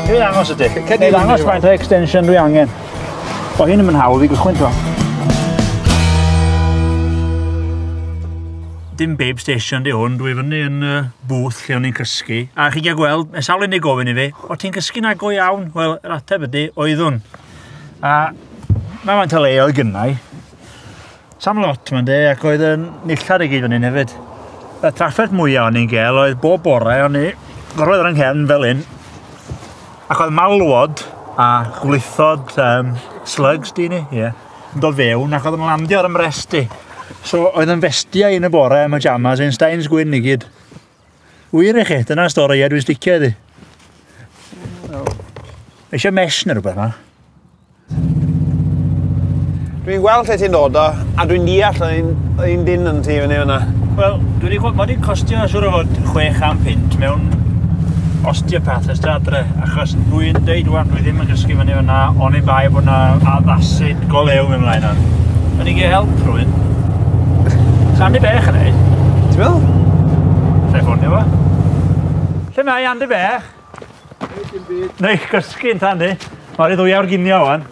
Dwi'n ddangos ydy. Dwi'n ddangos faint o extension dwi angen. O hyn yn mynd hawdd i gychwyn to. Dim babe station di hwn, dwi fyny yn uh, booth lle o'n i'n cysgu. A chi gael gweld, mae sawl unig gofyn i fi, o ti'n cysgu na go iawn? Wel, yr ateb ydy, oeddwn. A mae faint o le oedd gynnau. Sam lot, mae'n de, ac oedd yn nillad i gyd fan hyn hefyd. Y trafferth mwyaf o'n i'n gael oedd bob bore, o'n i gorfod ar yng fel hyn, ac oedd malwod a gwlithod um, slugs di ni, ie, yn dod fewn, ac oedd yn landio ar ymresti. So, oedd yn festiau yn y bore am y jamas, ein stains gwyn i gyd. Wir i chi, dyna stori, ie, dwi'n sticio iddi. Eisiau mesh neu rhywbeth yma? Dwi'n gweld lle ti'n dod o, a dwi'n deall yr un, yr un dyn yn ti fyny fyna. Wel, dwi wedi gweld, mae wedi costio siwr o fod chwech am punt mewn osteopath ystod adre, achos dwi'n deud wan, dwi ddim yn gysgu fyny fyna, ond ei bai bod yna addasid go lew mewn mlaen ar. Yn i gael help rhywun. Sandy Bech yn ei. Ti'n meddwl? Lle ffonio fo? Lle mae Andy Bech? Neis gysgu yn tan di. Mae'r i ddwyawr ginio o'n.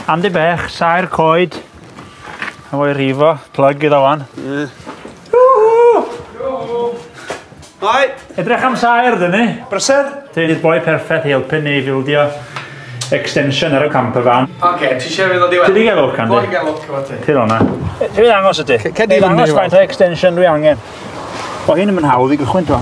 Andy Bech, saer coed. A fo'i rifo, plug iddo o'n. Hai! Edrych am saer, dyn ni. Brysedd? Ti'n i'r boi perffaith i helpu ni i fildio extension ar y camper van. Oce, okay, ti eisiau fynd o diwedd? Ti di gael lwc, Andy? Dwi'n gael lwc, efo ti. Ti'n o'na. Ti fydd angos ydy? Cedi fynd i weld. Angos faint o extension dwi angen. O hyn yn mynd hawdd i gychwyn, to.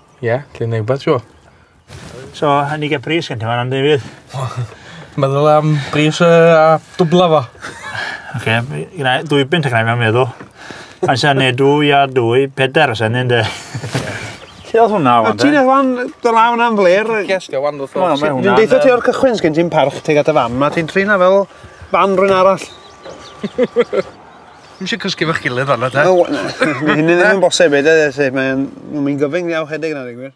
Ie, lle neu wbath siŵr. So, a ni gael bris gen ti fan am David? Meddwl am bris uh, a dwbla fo. Ok, yna dwy bint ac yna mewn meddwl. Mae'n sy'n neud dwy a dwy, peder os enyn de. Lle oedd hwnna wan de? Ti'n ei wan, dy law na'n fler. Cesga wan ddo ffôn. Dwi'n deitha ti o'r cychwyn sgyn ti'n parch teg at y fan, mae ti'n trin fel fan rwy'n arall. Ddim eisiau cysgu efo'ch gilydd fanna te. O, na. Mae hynny ddim yn bosib i dweud, felly mae'n mynd gyfyng iawn chedig yna, dwi'n gwir.